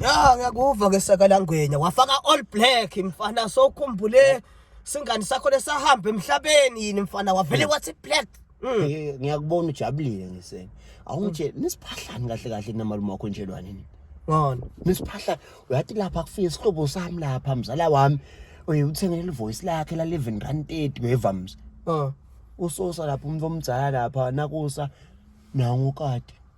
ya ngiyakuva ke sakalangwenya wafaka all black mfana sokhumbule singani sakho lesahamba emhlabeni yini mfana wavele hmm. wathi black hmm. eh, ngiyakubona ujabulile ngisene awungitshela hmm. nisiphahlani kahle kahle namalume wakho njelwane nini ngani nisiphahlani uyathi lapha kufike isihlobo sami lapha mzala wami oye uthengele ivoice lakhe la 11 rand 30 ngevamza usosa lapha umuntu omdzala lapha nakusa nangu kade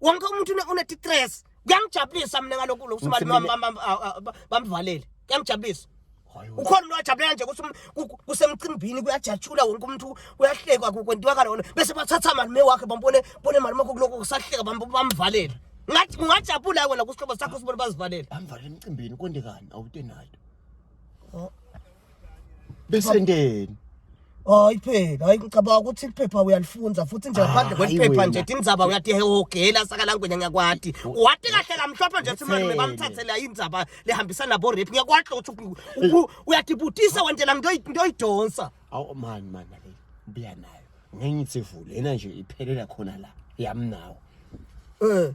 wonke umuntu unetitress kuyangijabulisa mina ngalokhu lo kusibali bamvalele kuyangijabulisa ukhona umuntu wajabulela nje ukuthi um, kusemcimbini kuyajatshula wonke umuntu uyahlekwa kwentiwa kalona bese bathatha malume wakhe bambone bone malume wakho kuloko kusahleka bamvalele ngathi ungajabula wena kusihlobo sakho sibone bazivalele amvalele emcimbini konde kani awutenayo besendeni hayi phela hayi ngicabanga ukuthi iphepha uyalifunza futhi nje ngaphandle Hayi kweliphepha wena. nje tindzaba uyatihehogela sakalangwenya ngiyakwati wati kahle kamhlophe nje simane Ngitheni? bamthathela indzaba lehambisana nabo rape ngiyakwati ukuthi uku- uku- uyatibutisa wentela ngiyoyi- ngiyoyidonsa awu mani mani ake buya nayo ngenye itsivule yena nje iphelela khona la yami nawo um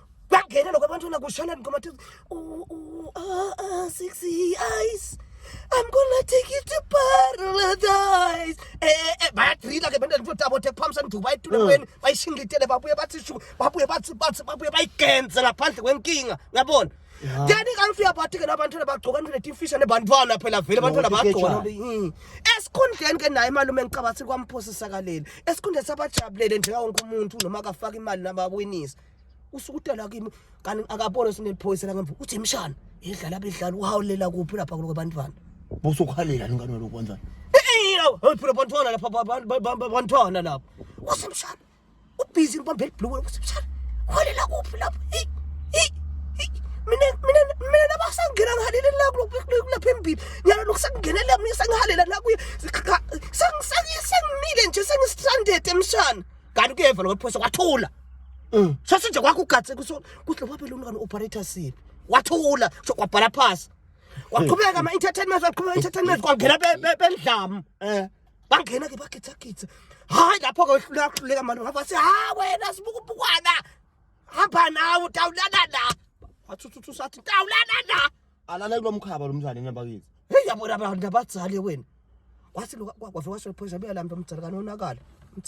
kwangena lokho abantwana kushalani khoma thiz six eyes I'm gonna take you to paradise. Eh, eh, eh bayadrila ke bendele futhi abo tech pumps anduba etulekweni mm. bayishingitele babuye bathi shu babuye bathi bathi babuye bayigenze ngaphandle kwenkinga ngiyabona then ikanfi yabathi ke labantwana bagcoka into letimfisha nebantwana phela vele abantwana bagcoka hmm. esikhundleni ke naye malume ngicabathi kwamphosisakaleli esikhundleni sabajabulele njengawo wonke umuntu noma akafaka imali nabawinisa usukutela kimi kanti akabona sineliphoyisa la ngemvu uthi imshana idlala abidlala uhawulela kuphi lapha kulo bantwana busukhalela lingane lokho kanjani eyo phela bantwana lapha bantwana lapha usimshana ubhizi ngibambe elibhlukwini usimshana uhawulela kuphi lapha mina mina mina nabasangena ngihalele la kulapha embili nyalo lokhu sengingenela mina sengihalela la kuye sengimise kanti kuyeva lo wephosa kwathula Mm. Sase nje kwakho ugatse kuso kuhle wabe lona kana operator sibi. Wathula so kwabhala phasi. Waqhubeka ama entertainment waqhubeka entertainment kwangena bendlamu. Eh. Bangena ke bagitha githa. Hayi lapho ke wehlula kuhluleka manje ngafa si ha wena sibukubukwana. Hamba nawe utawulana la. Wathuthu sathi tawulana la. Alala kulomkhaba lomntwana enabakithi. Hey yabona abantu abadzali wena. Wathi lo kwavela washo phoyisa beyalamba umdzala kanonakala.